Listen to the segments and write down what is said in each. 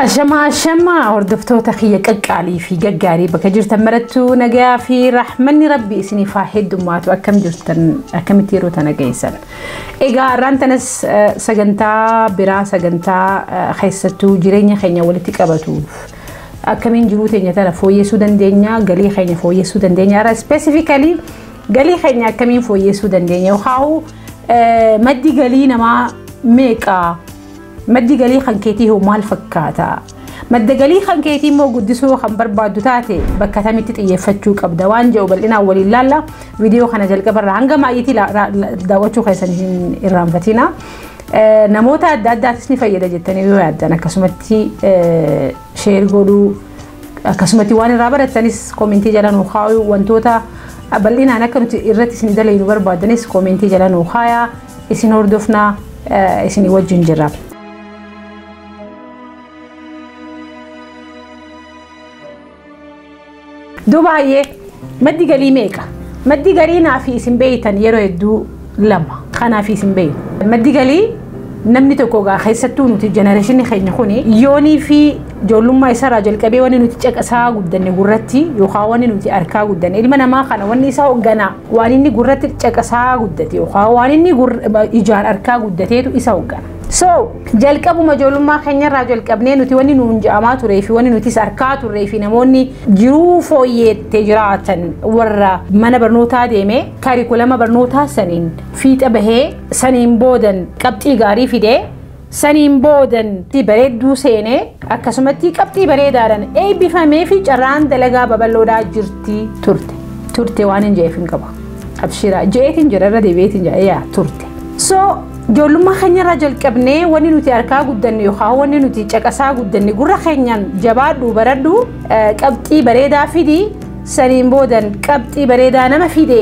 Ashamaa ashamaa hordoftoota kiyya qaqqaalii fi gaggaarii bakka jirtan marattuu nagayaa fi raaxmanni rabbi isiniif haa heddummaatu akkam jirtan akkamitti yeroo tana geessan. Egaa har'aan tanas eh, sagantaa biraa sagantaa eh, keessattuu jireenya keenya walitti qabatuuf akkamiin jiruu teenya tana fooyyessuu dandeenya galii keenya fooyyessuu dandeenya irra ispeesifikalii galii keenya akkamiin fooyyessuu dandeenya yookaan maddi galii namaa meeqa Maddi galii kan keetii hoo maal fakkaata? Madda galii kan keetii immoo guddisuu kan barbaaddu taate bakka kamitti xiyyeeffachuu qabda waan jedhu bal'inaan waliin laalla. Viidiyoo kana jalqaba irraa hanga maayyiitii daawwachuu keessan hin irraanfatina. Namoota adda addaatis ni fayyada jettanii yoo yaaddan akkasumatti sheer godhuu akkasumatti waan irraa barattanis koomentii jala nuu kaa'uu wantoota bal'inaan akka nuti irratti isin dalaynu barbaaddanis koomentii jala nuu kaayaa. Isin hordofnaa isinii wajjin jirra. Duuba hayyee maddi galii meeqa? Maddi galii naa fi isin beeytan yeroo hedduu lama. Kanaa fi isin beeynu. Maddi galii namni tokko gaa keessattuu nuti jenereeshinii keenya kuni yoonii fi ijoollummaa isaarraa jalqabee wanni nuti caqasaa guddanne gurratti yookaan wanni nuti harkaa guddanne ilma namaa kana wanni isa hoogganaa Waan inni gurratti caqasaa guddate yookaan waan inni ijaan arkaa guddateetu isa hoggana. So jalqabuma ijoollummaa keenyarraa jalqabnee nuti wanni nuun ja'amaa turee fi wanni nutis arkaa turree fi namoonni jiruu fooyyeettee jiraatan warra mana barnootaa deemee kaarikulama barnootaa saniin fiixa bahee saniin boodan qabxii gaarii fidee Saniin boodan tti bareedduu seenee akkasumattii qabxii bareedaadhan eebbifamee fi carraan dalagaa babal'oodhaa jirtii turte turte waanin je'eef hin qabu abshiraa je'eetin jira irra deebi'eetin jira yaa turte so joollummaa keenyarraa jalqabnee wanni nuti arkaa guddanne yookaan wanni nuti caqasaa guddanne gurra keenyaan jabaadhu baradhu qabxii bareedaa fidi saniin boodan qabxii bareedaa nama fide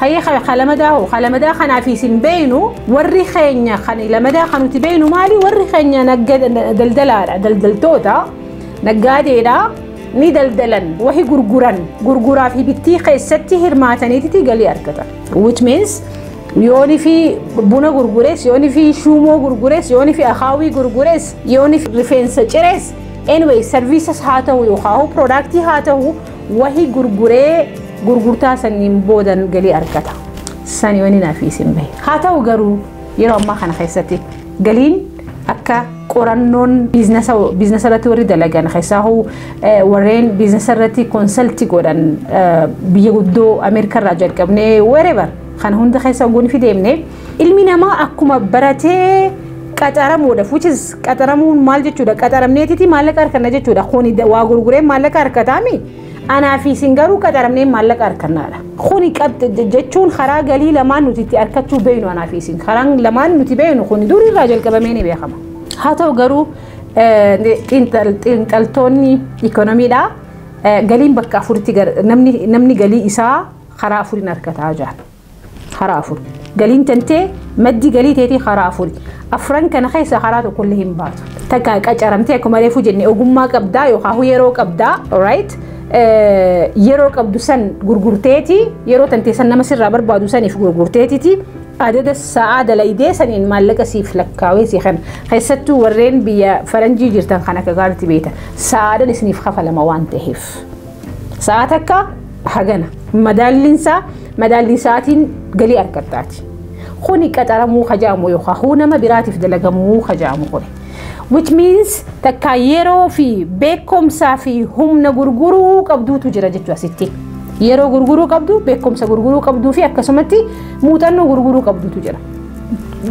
Hayyee ka ka lamadaa hoo ka lamadaa kanaaf isin beeynu warri keenya kan lamadaa kan nuti beeynu maali warri keenya nagga- daldalaadha daldaltoota naggaadeedha ni daldalan wahi gurguran gurguraa fi bittii keessatti hirmaataniititi galii argatan which means yooni fi buna gurgures yooni fi shuumoo gurgures yooni fi akaawii gurgures yooni fi rifeensa cires anyway services haa ta'u yookaan hoo product haa ta'u Wahi gurguree gurgurtaa sanniin boodan galii argata. Sani wani naaf isin bahe. Haa ta'u garuu yeroo ammaa kana keessatti galiin akka qorannoon biiznasa biiznasa irratti warri dalagan keessaa hoo warreen biiznasa irratti konsalti godhan biyya guddoo Ameerikaa irraa jalqabnee wherever kana hunda keessa oguu ni fideemne Ilmi namaa akkuma baratee qaxaramuudhaaf which is qaxaramuun maal jechuudha qaxaramneetiti maallaqa harkanna jechuudha kuni waa gurguree maallaqa harkataami anaa fi isin garuu qaxaramnee maallaqa harkannaadha. Kuni jechuun karaa galii lamaan nuti itti harkachuu beeknu anaa fi isin karaan lamaan nuti beeknu kuni durirraa jalqabamee ni beekama. Haa ta'u garuu xiinxaltoonni ikoonomiidhaa galiin bakka afuritti namni galii isaa karaa afuriin harkataa jira. Karaa afur. Galiin tantee maddi galii teetii karaa afuri. Afran kana keessaa karaa tokkollee hin baatu. Takka qacaramtee akkuma reefuu jenne ogummaa qabdaa yookaan yeroo qabdaa right? yeroo qabdu san gurgurteeti yeroo tantee san nama sirraa barbaadu saniif gurgurteetiti adada sa'aa dalaydee saniin maallaqa siif lakkaawee si kana keessattuu warreen biyya faranjii jirtan kan akka gaaritti beektan sa'aadhan isiniif kafalama waan ta'eef. Sa'a takka hagana madaalliin isaa madaallii sa'aatiin galii argattaati. Kuni qaxaramuu hajaamu yookaan huu nama biraatiif dalagamuu hajaamu kuni. Which means takka yeroo fi beekumsaa fi humna gurguruu qabduutu jira jechuu asitti. Yeroo gurguruu qabdu, beekumsa gurguruu qabduu fi akkasumatti muuxannoo gurguruu qabduutu jira.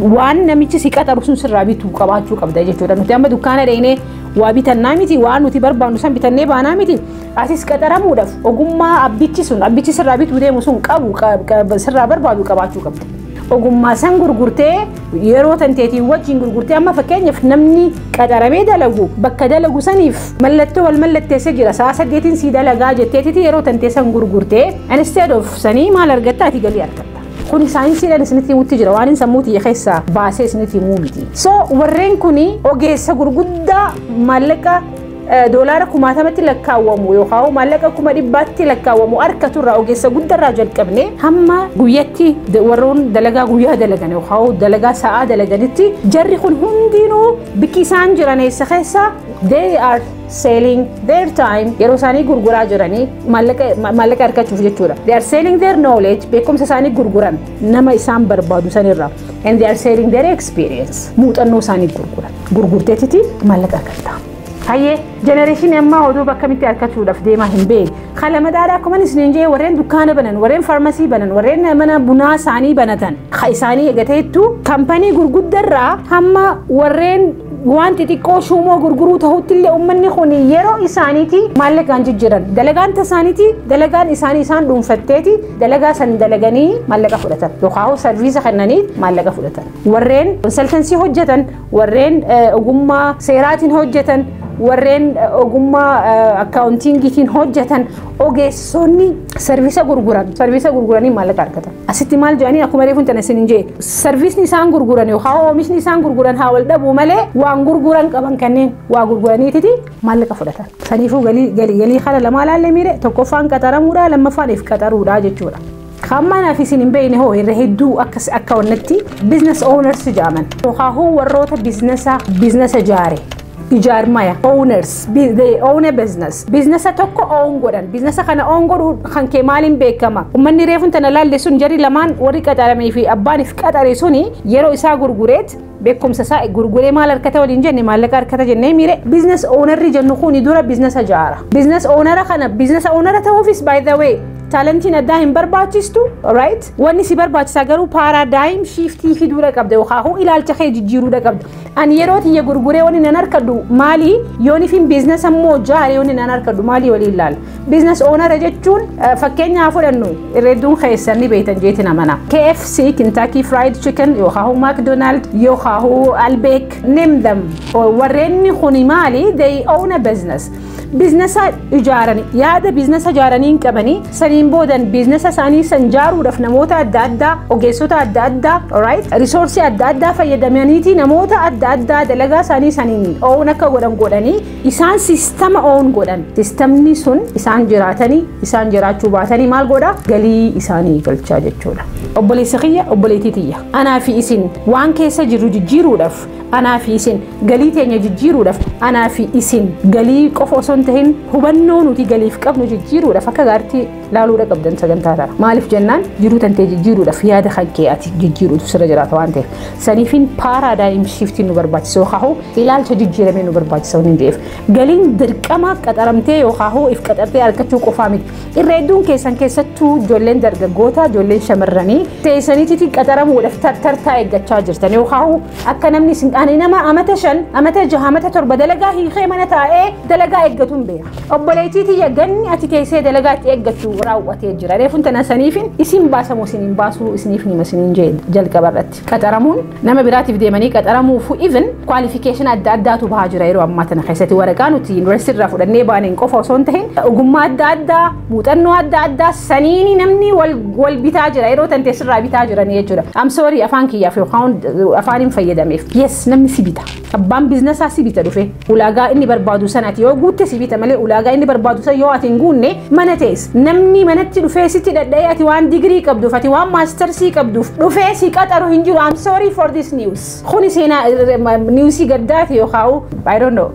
Waan namichi si qaxaru sun sirraa bitu qabaachuu qabda jechuudha. Nuti amma dukkaana dheenee Waa bitannaa miti waan nuti barbaannu san bitannee baanaa miti atis qaxaramuudhaaf ogummaa abbichi sun abbichi sirraa bituu deemu sun qabu sirraa barbaadu qabaachuu qabda. Ogummaa san gurgurtee yeroo tanteetiin wajjin gurgurtee amma fakkeenyaaf namni qaxaramee dalagu bakka dalagu saniif mallattoo wal mallatteessee jira sa'a saddeetiin sii dalagaa jetteetiti yeroo tantee san gurgurtee instead of sanii maal argatta ati galii argatta. Kuni saayinsiidhaan isinitti himutti jira waan sammuu tiyya keessaa baasee isinitti himuu miti. So warreen kuni ogeessa gurguddaa maallaqa doolaara kumaatamatti lakkaawwamu yookaan maallaqa kuma dhibbaatti lakkaawwamu harkatu irraa ogeessa guddarraa jalqabne hamma guyyatti warroon dalagaa guyyaa dalagan yookaan dalagaa sa'aa dalaganitti jarri kun hundinuu bikki isaan jiran eessa keessa they are selling their time yeroo isaanii gurguraa jiranii maallaqa maallaqa argachuuf jechuudha. They are selling their knowledge beekumsa isaanii gurguran nama isaan barbaadu sanirra and they are selling their experience muuxannoo isaanii gurguran gurgurteetiti maallaqa argatta. Hayyee jenereeshinii ammaa oduu bakka mitti argachuudhaaf deemaa hin beeku. Haala madaalaa akkuma isiniin jee warreen dukkaana banan, warreen faarmasii banan, warreen mana bunaa isaanii banatan, ha isaanii eegateettu kampanii gurguddarraa hamma warreen waan xixiqqoo shuumoo gurguruu ta'utti illee uummanni kun yeroo isaaniiti maallaqaan jijjiiran dalagaan tasaaniiti dalagaan isaanii isaan dhuunfatteeti dalagaa san dalaganii maallaqa fudhatan yookaan sarviisa kennanii maallaqa fudhatan warreen konsaltansii hojjetan warreen ogummaa seeraatiin hojjetan warreen ogummaa akkaawuntiingiitiin hojjetan Ogeessonni sarviisa gurguran sarviisa gurguranii maallaqa argatan. Asitti maal jedhanii akkuma reefuun tana isin hin jee sarviisni isaan gurguran yookaan oomishni isaan gurguran haa wal dhabuu malee waan gurguran qaban kanneen waa gurguraniititi maallaqa fudhatan. Saniifuu galii galii galii kana lamaa laallee miire tokkoffaan qaxaramuudha lammaffaan if qaxaruudha jechuudha. Kaammaanaaf isin hin beekne hoo irra hedduu akkas akka wannatti business owners jedhaman. Yookaan warroota biiznasa biiznasa ijaare. Ijaarmaya owners they own a business biiznasa tokko own godhan biiznasa kana own godhu kan kee maaliin beekama ummanni reefun tana laalle sun jarri lamaan warri qaxaramee fi abbaan if qaxare suni yeroo isaa gurgureet beekumsa isaa gurguree maal argata waliin jenne maallaqa argata jennee miire biizines oonarri jennu kuni dura biizinesa jaara. Biizinesa oonara kana biizinesa oonara ta'uufis by the way taalantiin addaa hin barbaachistu right wanni si barbaachisaa garuu paaraadaayim shiiftii fiduudha qabda yookaan hoo ilaalcha kee jijjiiruudha qabda ani yeroo tiyya gurguree wanni nan harkadhu maali yoonifin biizinesa immoo jaare wanni nan harkadhu maali waliin laala. Biizines oonara jechuun fakkeenya haa fudhannu irra hedduun keessan ni beektan jeetiin amana. KFC, Kentucky Fried Chicken, yookaan McDonald, yookaan Albeek, name them. Warreen kuni maali? They own a business. Biiznesa ijaaranii yaada biiznesa ijaaranii hin qabanii saniin boodan biiznesa isaanii san ijaaruudhaaf namoota adda addaa ogeessota adda addaa right risoorsii adda addaa fayyadamaniiti namoota adda addaa dalagaa isaanii saniin oowwan akka godhan godhanii Isaan sistama own godhan. Sistamni sun isaan jiraatanii isaan jiraachuu baatanii maal godha galii isaanii galchaa jechuudha. Obboleessa kiyya obboleetii tiyya. Anaa fi isin waan keessa jirru jijjiiruudhaaf anaa fi isin galii teenya jijjiiruudhaaf anaa fi isin galii qofa osoo hin tahin hubannoo nuti galiif qabnu jijjiiruudhaaf akka gaartii laaluudha qabdan sagantaa tana maaliif jennaan jiruu tantee jijjiiruudhaaf yaada kan kee ati jijjiiruutu sirra jiraata waan ta'eef saniifin paaraadaayim shiiftiin nu barbaachisa yookaan hoo ilaalcha jijjiiramee nu barbaachisa waan ta'eef galiin dirqamaaf qaxaramtee yookaan hoo if qaxartee argachuu qofaa miti irra hedduun keessan keessattuu ijoolleen dargaggoota ijoolleen shamarranii teessaniitti qaxaramuudhaaf tartartaa eeggachaa jirtan yookaan hoo akka namni isin ani nama amata shan amata jaha amata torba dalagaa hiikee mana taa'ee dalagaa eeggatuun beeka. Obboleettii tiyya ganni ati teessee dalagaa itti eeggattu raawwatee jira. Reefun tana saniifin isin baasamoo isin hin baasuu isiniif nima isiniin jee jalqaba irratti. Qaxaramuun nama biraatiif deemanii qaxaramuufu even qualification adda addaatu bahaa jira yeroo ammaa tana keessatti waraqaa nuti university irraa fudhannee baaneen qofa osoo hin tahin ogummaa adda addaa muuxannoo adda addaa saniini namni wal wal bitaa jira yeroo tan teessirraa bitaa jiranii jechuudha. I'm sorry afaan kiyyaaf yookaan afaaniin fayyadameef. Yes namni si bita. Abbaan biizinasaa si bita dhufee ulaagaa inni barbaadu san ati yoo guutte si bita malee ulaagaa inni barbaadu san yoo ati hin guunne mana teessa. Namni manatti dhufee sitti dhadha'ee ati waan digirii qabduuf ati waan maastarsii qabduuf dhufee si qaxaru hin jiru. I'm sorry for this news. Kuni seenaa niwusii gaddaati yookaan I don't know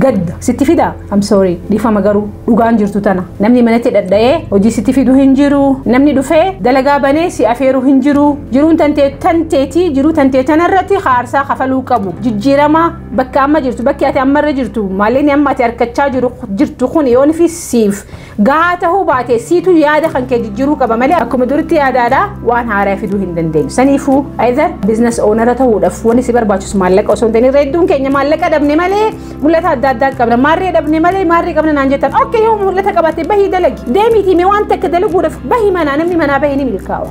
gadda sitti fidaa. I'm sorry dhiifama garuu dhugaan jirtu tana namni manatti dhadha'ee hojii sitti fidu hin jiru namni dhufee dalagaa banee si afeeru hin jiru jiruun tantee tanteetii jiruu tantee tanarratti haarsaa kafaluu qabu jijjiirama bakka amma jirtu bakki ati ammarra jirtu maallaqni amma ati harkachaa jiru jirtu kun yoon fi siif Gahaa tahuu baate siitu yaada kan kee jijjiruu qaba malee akkuma duritti yaada alaa waan haaraa fiduu hin dandeenyu. Saniifuu either business owner ta'uudhaaf wanni si barbaachisu maallaqa osoo hin ta'in irra hedduun keenya maallaqa dhabne malee mul'ata adda addaa qabna. Maarree dhabne malee maarree qabna naan jettan. Okkee yoo mul'ata qabaate bahii dalagi. Deemiitii mee waan takka dalaguudhaaf bahi manaa namni manaa bahee ni milkaawa.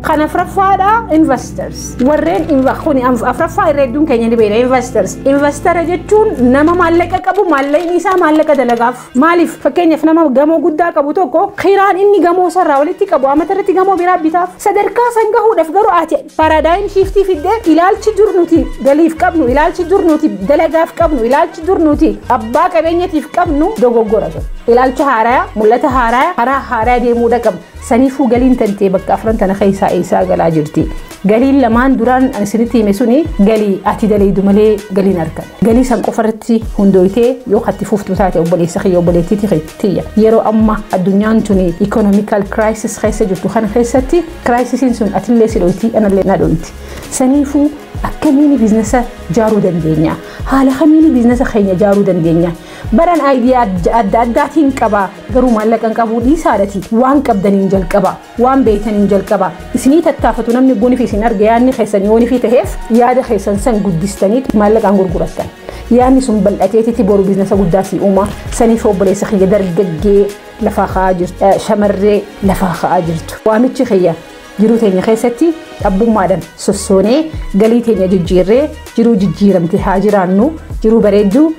Kan afraffaadha investors. Warreen kuni afraffaa irra hedduun keenya ni beekna investors. Investara jechuun nama maallaqa qabu maallaqni isaa maallaqa dalagaaf. Maaliif fakkeenyaaf nama gamoo guddaa qabu tokko kiraan inni gamoo sarraa walitti qabu amata irratti gamoo biraa bitaaf sadarkaa san gahuudhaaf garuu ati paaraadaayim shiiftii fiddee ilaalchi dur nuti galiif qabnu ilaalchi dur nuti dalagaaf qabnu ilaalchi dur nuti abbaa qabeenyatiif qabnu dogoggora sun ilaalcha haaraya mul'ata haaraya karaa haaraya deemuudha qabna saniifuu galiin tantee bakka afran tana keessaa eessaa galaa jirti. Galiin lamaan duraan ani isinitti hime suni galii ati daleeydu malee galiin argan. Galii san qofa irratti hundooytee yoo katti fuftu taate obboleessa kiyya obboleettii tiyya. Yeroo amma addunyaan tuni economical crisis keessa jirtu kana keessatti crisis sun atillee si dhoyti anallee na dhoyti. Saniifuu akkamiin biiznesa jaaruu dandeenya? Haala kamiin biiznesa keenya jaaruu dandeenya? Baran aayidiyaa adda addaatiin qaba garuu maallaqa hin qabu dhiisaadhati waan qabdaniin jalqaba. Waan beeytaniin jalqabaa. Isinii tattaafatu namni bonifi isin arge yaadni keessan yoonifi taheef yaada keessan san guddistaniiti maallaqaan gurgurattan. Yaadni sun bal'ateetiti boru biznasa guddaa sii uumaa. Saniif obboleessa kiyya dargaggee lafaa ka'aa jirtu, shamarree lafaa ka'aa jirtu. Waamichi kiyya jiruu teenya keessatti dhabbummaadhan sossoonee galii teenya jijjiirree jiruu jijjiiramte haa jiraannu. Jiruu bareedduu,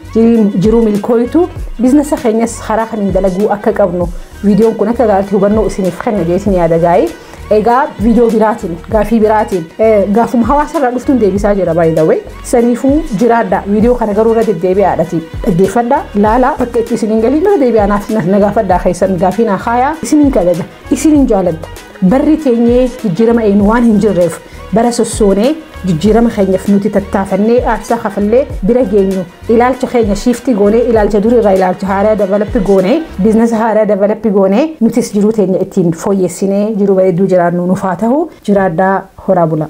jiruu milkooytu, biznasa keenyas karaa kamiin dalaguu akka qabnu Viidiyoon kun akka gaariitti hubannoo isiniif kenna jeetiin yaada gaa'ii. Egaa viidiyoo biraatiin, gaafii biraatiin, gaafuma hawaasa irraa dhuftuun deebisaa jira by the way. Saniifuu jiraadha. Viidiyoo kana garuu irra deddeebi'aadhati. Dhaggeeffadha, laala, bakka itti isiniin galiin irra deebi'aa naaf na gaafadhaa keessan gaafii naa kaayaa. Isiniin kabaja, isiniin jaaladha. Barri keenyi jijjiirama eegnu waan hin jirreef bara sossoonee jijjiirama keenyaf nuti tattaafannee aarsaa kafallee bira geenyu ilaalcha keenya shiiftii goonee ilaalcha durii irraa ilaalcha haaraa davalappi goonee biiznasa haaraa davalappi goonee nutis jiruu teenya ittiin fooyyessinee jiruu bareedduu jiraannu nuuf haa tahu jiraadhaa horaa bulaa.